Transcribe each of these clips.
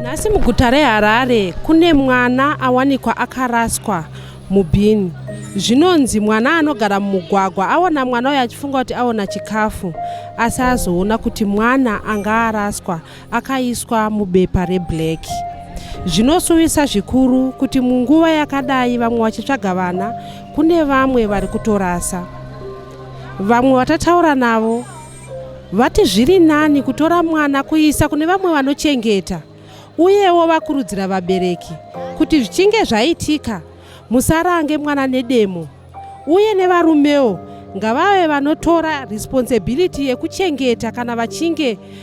nhasi muguta reharare kune mwana awanikwa akaraswa mubhini zvinonzi mwana anogara mumugwagwa aona mwana uyo achifunga kuti aona chikafu asi azoona kuti mwana anga araswa akaiswa mubepa reblack zvinosuwisa zvikuru kuti munguva yakadai vamwe vachitsvaga vana kune vamwe vari kutorasa Vamwe vatataura navo vati zviri nani kutora mwana kuisa kune vamwe vanochengeta uyewo vakurudzira vabereki kuti zvichinge zvaitika musarange mwana nedemo uye nevarumewo ngavave vanotora responsibility yekuchengeta kana vachinge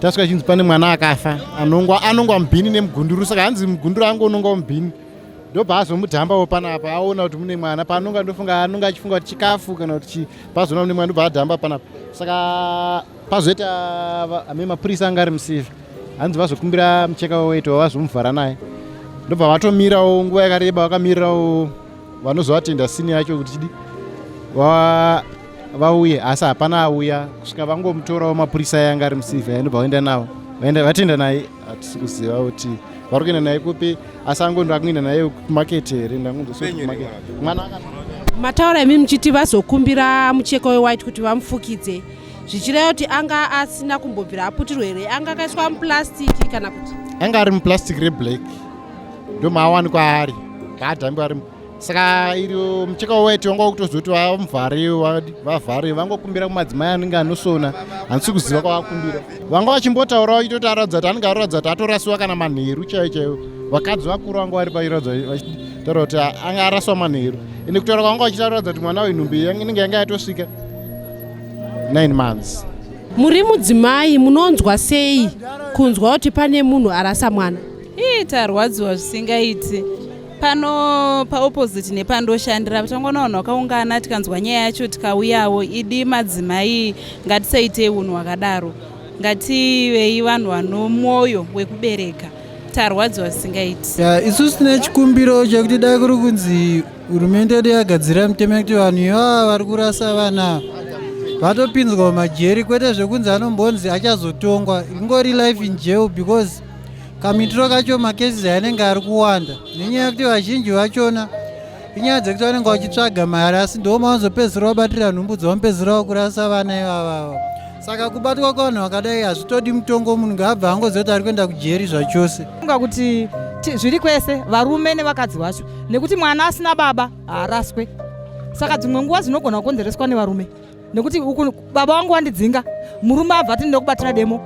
tasvika chinzi pane mwana akafa anongwa anongwa mubhini nemugunduru saka hanzi mugunduru ange unongwa mubhini ndobva azomudhambawo panapa aona kuti mune mwana paanonga ndofunga anonga achifunga kuti chikafu kana kuti chii pazoona mune mwana ndobva adhamba panapa saka pazoita ame mapurisa anga ari musivi hanzi vazokumbira mucheka weweti wavazomuvhara naye ndobva vatomirawo nguva yakareba vakamirirawo vanozovatenda sini yacho kuti chidi vauye asi hapana auya kusvika vangomutorawo mapurisa aya anga ari musivi aindobva vaenda navo vaenda vatienda naye hatisi kuziva kuti vari kuenda naye kupi asi angondo akuenda naye kumaketi here ndangondosokumwana mataura imi muchiti vazokumbira mucheko wewhite kuti vamufukidze zvichireva kuti anga asina kumbobvira aputirwa here anga akaiswa muplastiki kana kuti anga ari muplastiki reblack ndomaawanikwa ari ngaadhambe ari saka iri mucheka weti wanga kutozoti vamuvhare vavhare vangokumbira kumadzimai anenge anosona handisi kuziva kwavakumbira vanga vachimbotaurawo itoti aratidza kuti anenge aratidza kuti atorasiwa kana manheru chaiyo chaiyo vakadzi vakuru vanga vari pairatidza vachitaura kuti anga araswa manheru ende kutaura kwavanga vachitaratidza kuti mwana wenhumbi inenge yanga yatosvika 9 months muri mudzimai munonzwa sei kunzwa kuti pane munhu arasa mwana ii tarwadziwa zvisingaiti pano paopposite nepandoshandira tangona vanhu vakaungana tikanzwa nyaya yacho tikauyawo idi madzimai ngatisaitei unhu hwakadaro ngativei vanhu vanomwoyo wekubereka tarwadziwa zvisingaiti isusu tine chikumbiro chekuti dai kuri kunzi hurumende yedu yagadzira mitemo yekuti vanhu ivava vari kurasa vana vatopinzwa mumajeri kwete zvekunzi anombonzi achazotongwa ingori life in jail because kamitiro kacho macases anenge ari kuwanda nenyaya yekuti vazhinji vachona inyaya dzekuti vanenge vachitsvaga mari asi ndo mavanozopedzisira vabatira nhumbu dzavamupedzisira vakurasa vana ivavava saka kubatwa kwevanhu vakadai hazvitodi mutongo munhu ngaabva angoziva kuti ari kuenda kujeri zvachose unga kuti zviri kwese varume nevakadzi vacho nekuti mwana asina baba haaraswe saka dzimwe nguva dzinogona kukonzereswa nevarume nekuti uku baba wangu wandidzinga murume abva ati ndinoda kubatira demo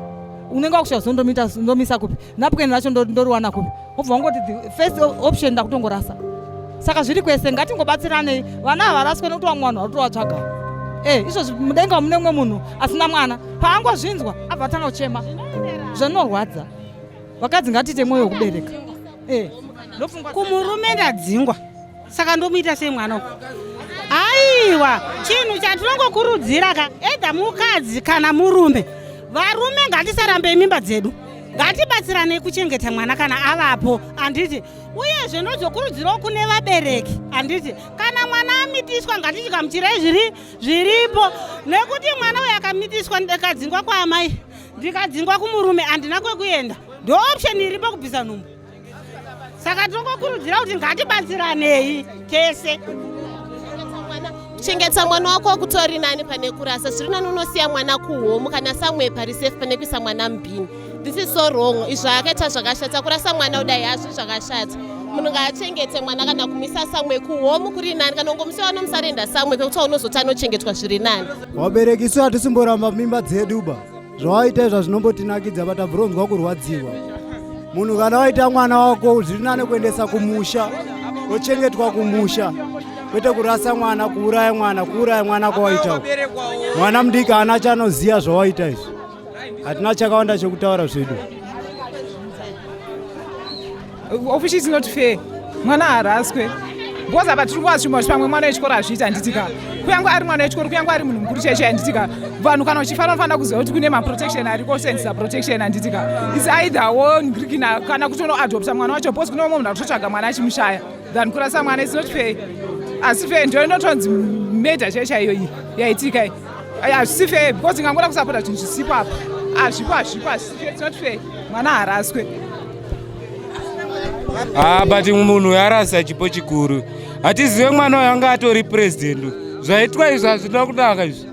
unenge wakusvika zondomita ndomisa kupi napukeni racho ndoriwana kupi obva wangoti first option ndakutongorasa saka zviri kwese ngatingobatsiranei vana havaraswe nekuti vamwe vanhu varutovatsvaga e eh, izvozvi mudenga mune umwe munhu asina mwana paangozvinzwa abva atanga kuchema zvanorwadza vakadzi ngatiite mwoyo wekubereka e eh, kumurume ndadzingwa saka ndomuita sei mwana uku aiwa chinhu chatinongokurudzira ka edha mukadzi kana murume varume ngatisarambei mimba dzedu ngatibatsiranei kuchengeta mwana kana avapo handiti uyezve ndozokurudzirawo kune vabereki handiti kana mwana amitiswa ngatichikamuchirai zviri zviripo nekuti mwana uyo akamitiswa ndikadzingwa kwaamai ndikadzingwa kumurume handina kwekuenda ndooption iripo kubvisa nhumbu saka tongokurudzira kuti ngatibatsiranei tese kuchengeta mwana wako kutori nani pane kurasa zviri nani unosiya mwana kuhomu kana samwe pari safe pane kuisa mwana mubhini this is so wrong izvo akaita zvakashata kurasa mwana kudai hazvi zvakashata munhu ngaachengete mwana kana kumisa samwe kuhomu kuri nani kana ungomusiya wanomusarenda samwe pekuti unozoti anochengetwa zviri nani vabereki isu hatisimboramba mimba dzedu ba zvawaita izva zvinombotinakidza but abvronzwa kurwadziwa munhu kana waita mwana wako zviri nane kuendesa kumusha ochengetwa kumusha kwete kurasa mwana kuuraya mwana kuuraya mwana kwawaita mwana mudiki haana chanoziva zvawaita izvi hatina chakawanda chekutaura zvedu Of is not fair. Mwana haraswe. Because apa tiri kuva zvimwe zvipamwe mwana wechikoro azviita handitika. Kuyange ari mwana wechikoro, kuyange ari munhu mukuru chaicho handitika. Vanhu kana uchifanira kufanira kuziva kuti kune maprotection ariko senzisa protection handitika. It's either wo ngrikina kana kutono adopta mwana wacho because kune umwe munhu akutotsvaga mwana achimushaya than kurasa mwana it's not fair. Asi fair ndio inotonzi murder chaiyo chaiyo iyi yaitika iyi. Hazvisi fair because ingangoda kusapota zvinhu zvisipo apa. Hazvipo hazvipo hazvisi fair it's not fair. Mwana haraswe. Ah, but munhu yarasa chipo chikuru hatizive mwana uyo anga atori president zvaitwa izvi hazvina kunaka izvi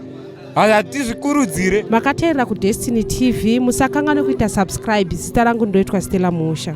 hatizvikurudzire makateerera kudestiny tv musakanganwe kuita subscribe zita rangu ndoitwa stella musha